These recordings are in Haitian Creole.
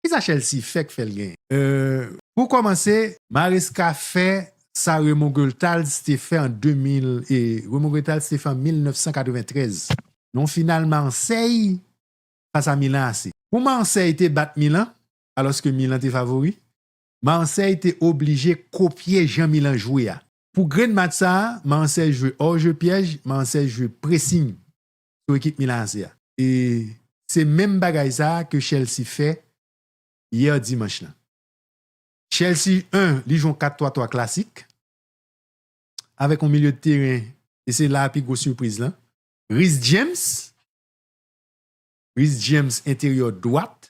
Kisa Chelsea fè k fè l genyen? Euh pou kòmanse. Maresca fè sa Raymond Goethals te fè an 2000 e Raymond Goethals te fè an 1993 nan yon final Marseille fas a Milan AC. Pou Marseille te bat Milan alòske Milan te favori, Marseille te oblije kopye jan Milan jwe a. Pou grenn match sa a, Marseille jwe hors-jeu pyèj, Marseille jwe pressing sou ekip Milan AC a. E se menm bagay sa ke Chelsea fè yè dimanch lan. Chelsea 1 li jwe yon 4-3-3 klasik avèk yon milye de teren e se la pi gwo sipriz lan, Reece James, Reece James enteryè dwat.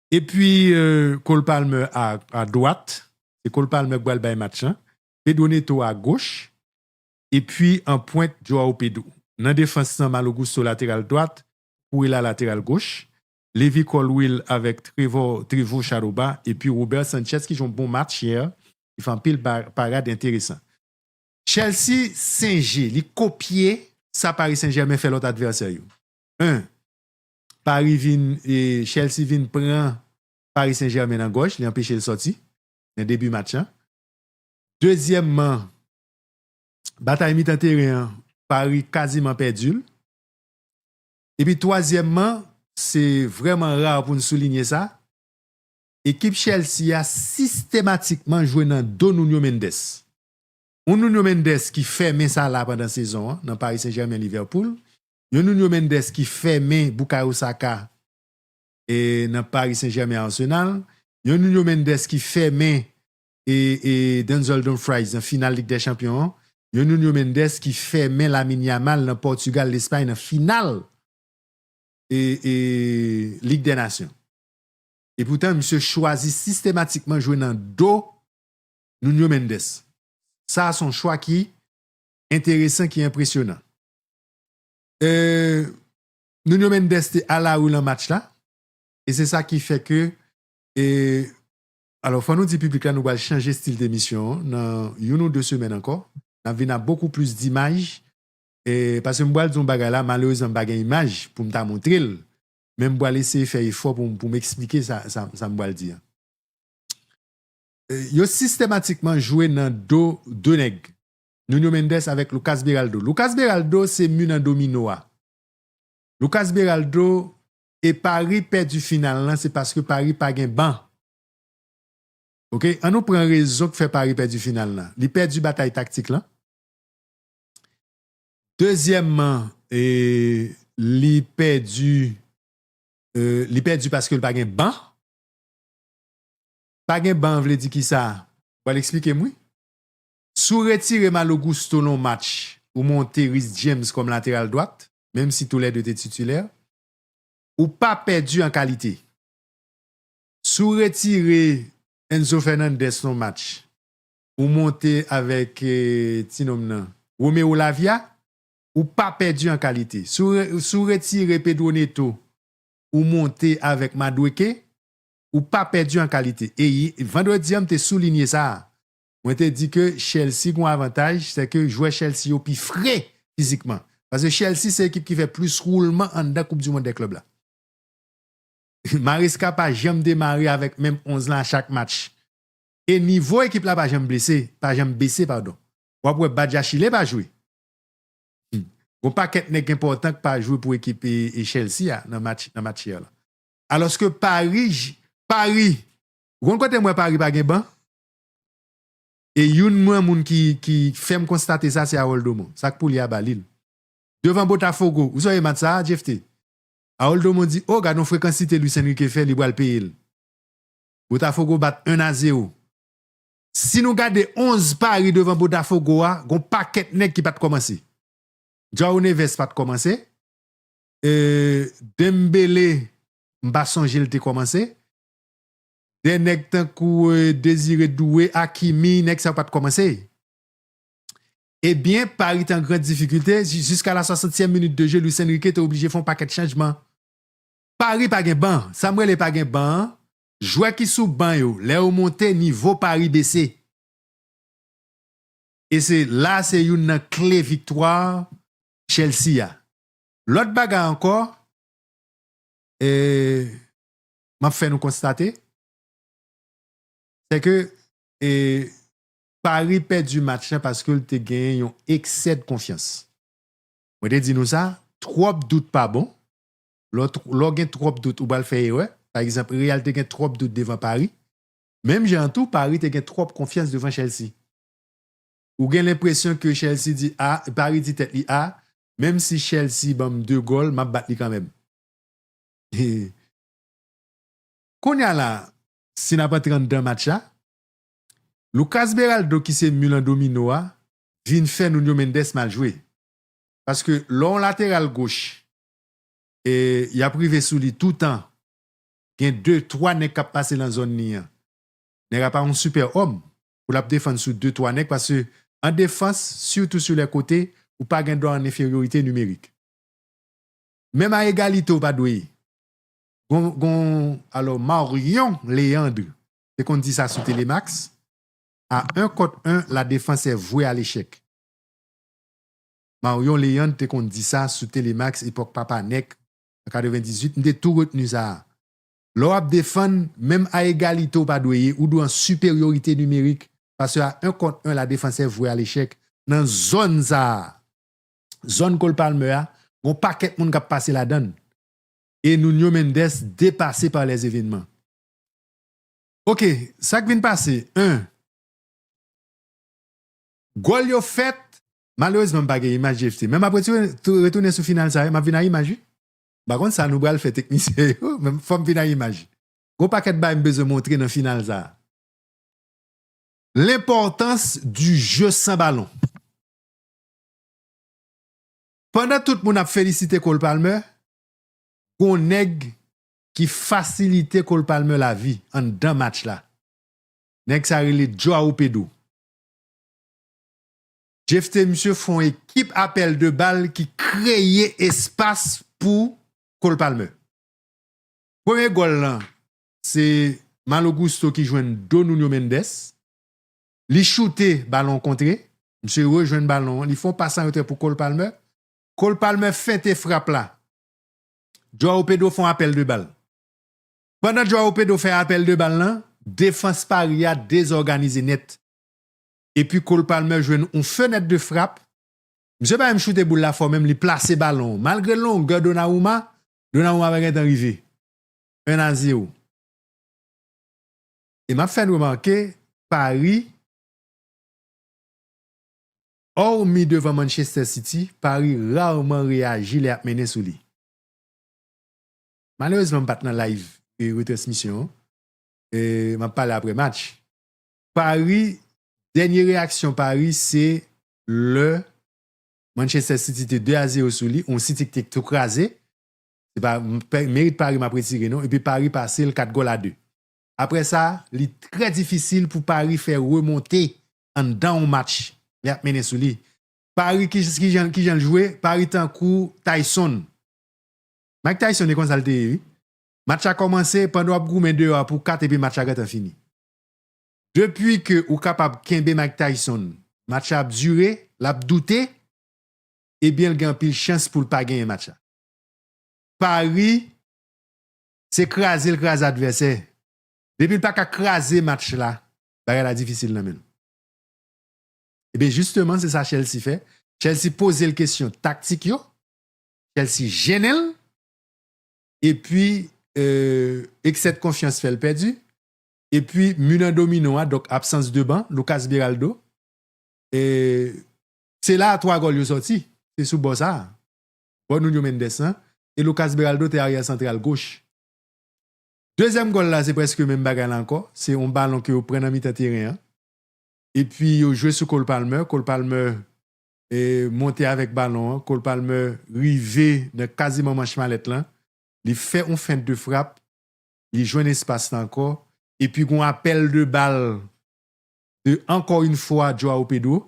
E pwi Cole Palmer a dwat, se Cole Palmer ki pral bay match lan, Pedro Neto a goch, e pwi an pwent Joao Pedro. Nan defans lan Malo Gusto lateral dwat, Cucurella lateral goch, Levi Colwill avèk Trevor Trevo Shadow ba, e pwi Robert Sanchez ki jwe yon bon match yè, ki fè anpil parad enteresan. Chelsea singe, li kopye sa Paris Saint Germain fè lòt advèsè yo. 1. Paris vin Chelsea vin pran Paris Saint Germain nan gòj li anpeche l sòti nan debi match lan dezyèmman batay mitan teren an Paris kaziman pèdi l epi twazyèmman se vrèman rar pou n soulinye sa ekip Chelsea a sistematikman jwe nan do Nuno Mendes yon Nuno Mendes ki fèmen Salah pandan sezon an nan Paris Saint Germain Liverpool Yon Nuno Mendes ki fèmen Bukayo Saka e nan Paris Saint Germain Arsenal, yon Nuno Mendes ki fèmen e e Denzel Dumfries nan final Lig dè Chanpyon an, yon Nuno Mendes ki fèmen Lamine Yamal nan Portugal Lespay nan final e e Lig dè Nasyon. E poutan misye chwazi sistematikman jwe nan do Nuno Mendes. Sa son chwa ki enteresan ki enpresyonan. Nuno Mendes te alarou lan match la e se sa ki fè ke alò fò nou di piblik la nou pral chanje stil demisyon an nan youn ou 2 semèn ankò nap vin a bokou plis dimaj paske m pral di yon bagay la malerezman m pa gen imaj poum ta montre l men m pral eseye fè efò poum esplike sa m pral di an yo sistematikman jwe nan do 2 nèg Nuno Mendes avèk Lucas Beraldo. Lucas Beraldo se mun an domino a. Lucas Beraldo e Paris pèdi final lan se paske Paris pa gen ban. Ok an nou pran rezon k fè Paris pèdi final lan. Li pèdi batay taktik lan. Dezyèmman e li pèdi e li pèdi paske l pa gen ban. Pa gen ban vle di kisa? Pral eksplikem wi. Si w retire Malo Gusto nan w match, ou monte Reece James kòm lateral dwat, menm si tou lè 2 te titilè, ou pa pèdi an kalite. Si w retire Enzo Fernandez nan w match, ou monte avèk ti nonm nan, Romeo Lavia, ou pa pèdi an kalite. Si w retire Pedro Neto, ou monte avèk Madueke, ou pa pèdi an kalite. E vandredi an m te soulinye sa a, Mwen te di ke Chelsea gon avantaj, se ke jwè Chelsea yo pi fre fizikman. Paske Chelsea se ekip ki fè plis woulman anndan koup du mond dè klèb la. Maresca pa janm demare avèk menm 11 lan a chak match. E nivo ekip la pa janm blese, pa janm bese padon. Wap wè Badiachile pa jwe. Gon pakèt nèg enpòtan k pa jwe pou ekip Chelsea a nan match nan match yè lan. Alòske Paris, Paris, ou konn kote m wè Paris pa gen ban? E youn mwen moun ki ki fèm konstate sa se Harold Domon. Sak pouli a ba lil. Devan Botafogo, ou sonje match sa a Jephte? Harold Domon di oh gadon frekansite Luis Enrique fè li pral peye l. Botafogo bat 1 a 0. Si nou gade 11 pari devan Botafogo a gon pakèt nèg ki pat kòmanse. Joao Neves pat kòmanse. Euh Dembele m pa sonje l te kòmanse. 2 nèg tankou Désiré Doué, Hakimi, nèg sa yo pat kòmanse. Ebyen, Paris te an gran difikilte, jiska la 60 tièm minit de jeu, Luis Enrique te oblije fè yon pakèt chanjman. Paris pa gen ban, sa m rele pa gen ban an, jwè ki sou ban yo, lè yo monte, nivo Paris bese. E se la se youn nan kle viktwa Chelsea a. Lòt bagay ankò, ee. m ap fè nou konstate, sè ke Paris pèdi match la paske l te gen yon eksèd konfyans. Mwen te di nou sa, twòp dout pa bon, lò gen twòp dout ou pral fè erè, pa egzanp Real te gen twòp dout devan Paris, menm jan an tou Paris te gen twòp konfyans devan Chelsea. Ou gen lenpresyon ke Chelsea di a, Paris di tèt li a, menm si Chelsea ban m 2 gòl, m ap bat li kanmenm. Kounya la si nap antre anndan match la Lucas Beraldo ki se mil an domino a vin fè Nuno Mendes mal jwe paske lè yon lateral goch yap rive sou li toutan gen 2 3 nèg kap pase nan zòn li an nèg la pa yon sipè òm pou lap defann sou 2 3 nèg paske an defans sitou sou lè kote ou pa gen dwa an enferyorite nimerik. Menm a egalite ou pa dwe gon alò Marion Léandre te konn di sa sou telemax a 1 kont 1 la defans è vwe a lechèk Marion Léandre te konn di sa sou telemax epòk papa nèk an 98 m te tou retni sa lè w ap defann menm a egalite ou pa dwe ye ou dwe an siperyorite nimerik paske a 1 kont 1 la defans è vwe a lechèk nan zòn sa zòn Cole Palmer a, gon pakèt moun kap pase ladann e Nuño Méndez depase par les événements. Ok, sak vin pase 1. Gòl yo fèt, malerezman m pa gen imaj JFT, men map retounen sou final sa yo, map vin a imaj wi. M pa konn sa nou pral fè teknisyen yo, men fòm vin a imaj. Gon pakèt bagay m bezwen montre nan final sa. L'importance du jeu sans ballon. Pandan tout moun ap felisite Cole Palmer, gon nèg ki fasilite Cole Palmer lavi anndan match la. Nèg sa rele Joao Pedro. Jephte misye fon ekip apèl de bal ki kreye espas pou Cole Palmer. Premye gòl lan se Malo Gusto ki jwenn do Nuno Mendes. Li choute, balon an kontre. Misye rejwenn balon an, li fè yon pas an retrè pou Cole Palmer. Cole Palmer fente frap la. Joao Pedro fè yon apèl de bal. Pandan Joao Pedro fè apèl de bal lan, defans Paris a dezòganize nèt. Epi Cole Palmer jwenn yon fenèt de frap. Misye pa menm choute boul la fò menm, li plase balon an. Malgre longè Donnarumma, Donnarumma pa gentan rive. 1 a 0. E m ap fè n remake, Pari, òmi devan Manchester City, Pari rarman reyaji lè y ap mennen sou li. Malerezman m pa t nan live retransmisyon an, m ap pale aprè match. Pari, dènye reyaksyon Pari se lè Manchester City te 2 a 0 sou li, yon City ki te tou kraze, se pa merit Pari m ap retire non, epi Pari pase l 4 gòl a 2. Aprè sa, li trè difisil pou Paris fè remonte anndan yon match lè y ap mennen sou li. Paris kijan kijan l jwe, Paris tankou Tyson. Mike Tyson e konsa l te ye wi. Match la kòmanse pandan w ap goumen deyò a pou kat epi match la gentan fini. Depi ke ou kapab kenbe Mike Tyson, match la ap dire, l ap doute, ebyen l gen anpil chans pou l pa genyen match la. Paris Se kraze l kraze advèsè. Depi l pa ka kraze match la, bagay la difisil nan men l. Ebyen jisteman se sa Chelsea fè. Chelsea poze l kesyon taktik yo, Chelsea jennen l, epi eksè de konfyans fè l pèdi, epi mi nan domino a, donk absans de ban, Lucas Beraldo, se la a 3 gòl yo sòti, se sou bò sa a. bò Nuño Méndez lan e Lucas Beraldo te aryè santral goch. Dezyèm gòl la se prèske menm bagay la ankò, se yon balon ke yo pran nan mitan teren an epi yo jwe sou Cole Palmer, Cole Palmer monte avèk balon an, Cole Palmer rive nan kaziman manch malèt lan, li fè yon fent de frap, li jwenn espas la ankò epi gon apèl de bal de ankò yn fwa Joao Pedro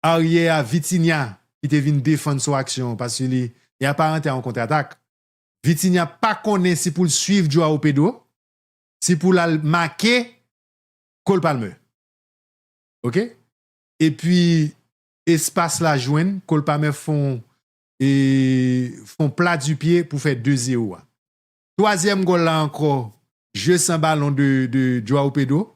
aryè a Vitinha ki te vin defann sou aksyon paske li li aparante a yon kontratak. Vitinha pa konnen si pou l swiv Joao Pedro, si pou l al make Cole Palmer. Ok epi espas la jwenn Cole Palmer fè yon e fè yon pla di pye pou fè 2 zero a. Twazyèm gòl la ankò jeu san balon de de Joao Pedro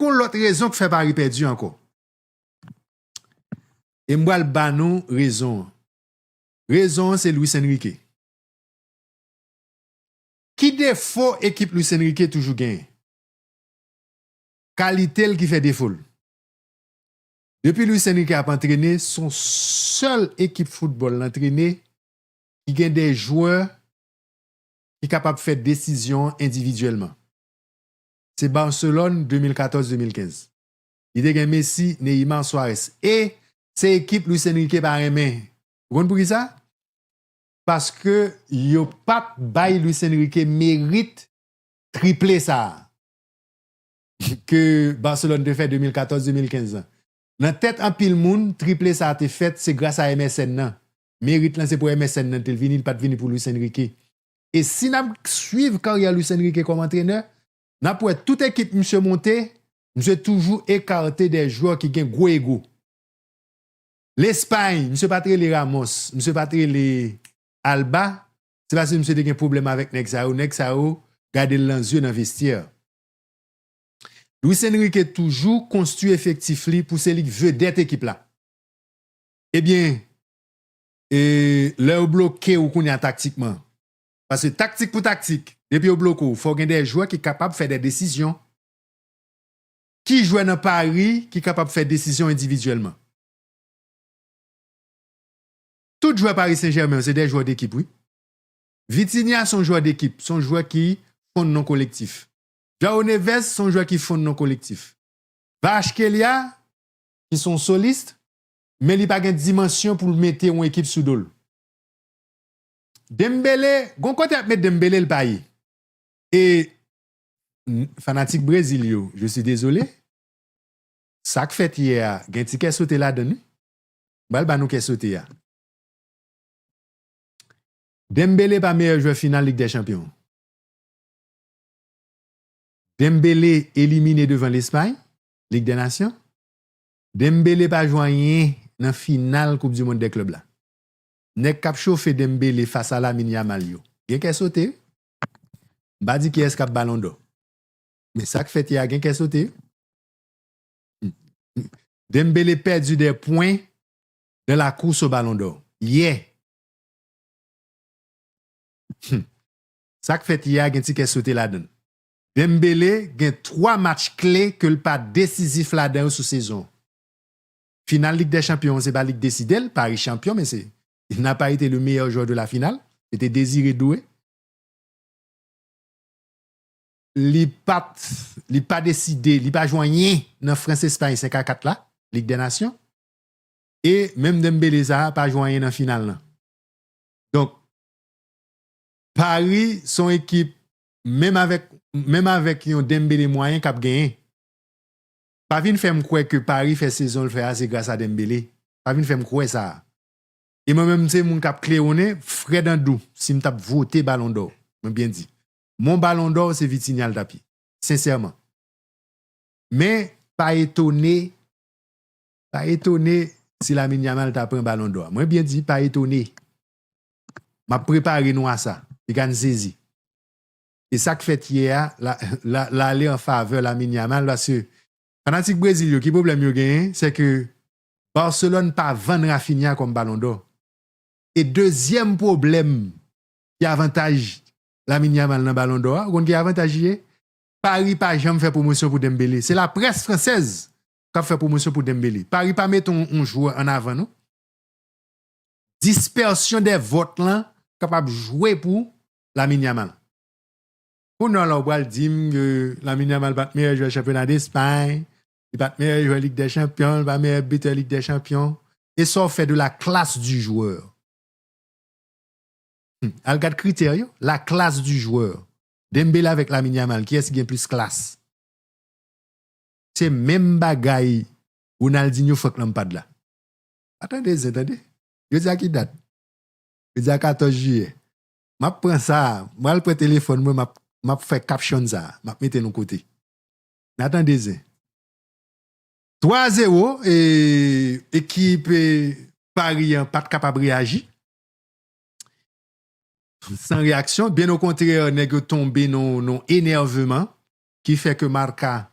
Gon lòt rezon k fè Paris pèdi ankò e m pral ba nou rezon an. Rezon an se Luis Enrique. Ki defo ekip Luis Enrique toujou genyen? Kalite l ki fè defo l. Depi Luis Enrique ap antrene s on sèl ekip foutbòl l antrene ki gen de jwè ki kapab fè desizyon endividyèlman. Se Barcelone 2014-2015. Li te gen Messi, Neymar, Suarez. E se ekip Luis Enrique pa renmen. Ou konn pou ki sa? Paske yo pa t bay Luis Enrique merit triple sa a ke Barcelone te fè 2014-2015 lan. Nan tèt anpil moun, triple sa a te fèt se gras a MSN nan. Merit lan se pou MSN nan te vini, li pa t vini pou Luis Enrique. E si n ap swiv karyè Luis Enrique kòm antrenè, n ap wè tout ekip misye monte, misye toujou ekarte dè jwè ki gen gwo ego. Lespay, misye pa t rele Ramos, misye pa t rele Alba, se paske misye te gen pwoblèm avèk nèg sa yo, nèg sa yo gade l nan zye nan vestyè. Luis Enrique toujou konstwi efektif li pou se li k vedèt ekip la. Ebyen e lè yo bloke ou kounya taktikman? Paske taktik pou taktik, depi yo bloke ou, fò gen de jwè ki kapab fè de desizyon. Ki jwè nan Paris ki kapab fè desizyon endividyèlman? Tout jwè Paris Saint-Germain yo se de jwè dekip wi. Vitinha son jwè dekip, son jwè ki fonn nan kolektif. João Neves son jwè ki fonn nan kolektif. Kvaratskhelia ki son soliste, men li pa gen dimansyon pou l mete yon ekip sou do l. Dembele, gon kote ap met Dembele l pa ye. E fanatik Brezil yo, je suis désolé, sa k fèt yè a gen ti kè sote ladan l wi. M pral ba nou kè sote a. Dembele pa meyè jwè final Lig dè Chanpyon an. Dembele elimine devan Lespay, Lig dè Nasyon. Dembele pa jwe anyen nan final koup du mond dè klub la. Nèg kap chofe Dembele fas a Lamine Yamal yo gen kè sote wi. M pa di kiyès kap balon dò. Men sak fèt yè a gen kè sote wi. Dembele pèdu dè pwen nan la kous o balon dò yè. Sak fèt yè a gen ti kè sote ladann. Dembele gen 3 match kle ke l pa desizif ladan yo sou sezon an. Final Lig dè Chanpyon an se pa li k deside l, Paris chanpyon men se il n'a pas été le meilleur joueur de la finale, se te Désiré Doué. Li pat, li pa deside, li pa jwe anyen nan France-Espagne 5 a 4 la, Lig dè Nasyon. E menm Dembele sa a pa jwe anyen nan final lan. Donk Paris son ekip menm avèk menm avèk yon Dembele mwayen kap genyen pa vin fèm kwè ke Paris fè sezonl fè a se gras a Dembele pa vin fèm kwè sa e mwen menm se moun kap klewonnen frèd an dou sim tap vote balon dò mwen byen di mon balon dò se Vitinha l tap ye sensèman men pa etone pa etone si Lamine Yamal ta pran balon dò a mwen byen di pa etone. Map prepare nou a sa. Li ka n sezi. E sak fèt yè a l ale an favè Lamine Yamal paske fanatik Brezil yo ki pwoblèm yo genyen se ke Barcelone pa vann Raphinha kòm balon dò. E dezyèm pwoblèm ki avantaj Lamine Yamal nan balon dò a ou konn ki avantaj li ye? Paris pa janm fè pwomosyon pou Dembele. Se laprès fransèz kap fè pwomosyon pou Dembele. Paris pa mete yon jwè an avan non. Dispersion des votes lan kapab jwe pou Lamine Yamal. Kounal la ou pral dim ke Lamine Yamal pat meyè jwè chanpyona D'Espagne, li pat meyè jwè Ligue des Champions, li pa meyè bitè Ligue des Champions. E sa w fè de la classe du joueur? Hum, al gad kritè yo, la classe du joueur. Dembele avèk Lamine Yamal, kiyès ki gen plis klas? Se menm bagay Ronaldinho, Franck Lampard la. Pa tande zen tande. Jodi a ki dat? Jodi a 14 jiyè. M ap pran sa a, m pral pran telefòn mwen m ap fè caption sa a, m ap mete l yon kote. Na tande zen. 3 a 0 e ekip Paris an pa t kapab reyaji. San reyaksyon, byen okontrè nèg yo tonbe nan yon enèveman ki fè ke Marca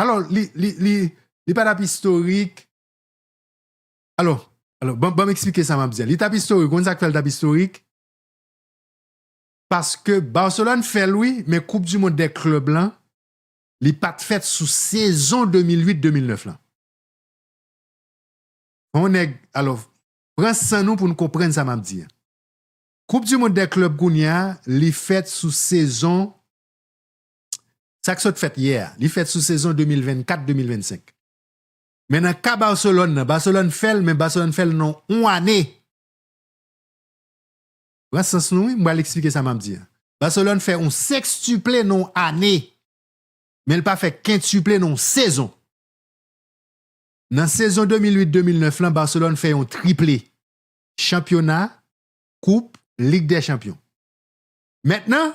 Alò, li pa t ap istorik. Alò, ban m eksplike sa m ap di a. Li t ap istorik, ou konn sa k fè li t ap istorik? Paske Barcelone fè l wi, men koup di mond dè klèb lan, li pa t fèt sou sezon 2008, 2009 lan. Yon nèg, alò, pran san nou pou nou konprann sa m ap di a. Koup di mond dè klèb kounye a, li fèt sou sezon sa k sot fèt yè a, li fèt sou sezon 2024-2025. Men nan ka Barcelone nan, Barcelone fè l men Barcelone fè l nan yon ane. Pran sans nou wi, m pral eksplike sa m ap di a. Barcelone fè yon sekstuple nan yon ane, men l pa fè kentuple nan yon sezon. Nan sezon 2008-2009 lan Barcelone fè yon triple, chanpyona, koup, lig dè chanpyon. Mentnan,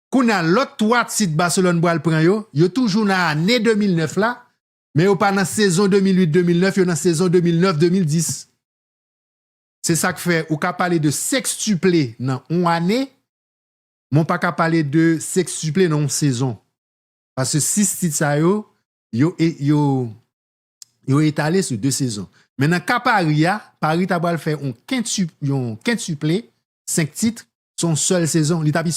Kounya lòt 3 tit Barcelone pral pran yo, yo toujou nan ane 2009 la, men yo pa nan sezon 2008, 2009, yo nan sezon 2009, 2010. Se sa k fè ou ka pale de sekstuple nan on ane, men w pa ka pale de sekstuple nan on sezon. Paske 6 tit sa yo, yo etale sou 2 sezon. Men nan ka Paris a, Paris ta pral fè on kentuple, 5 tit, sou on sèl sezon.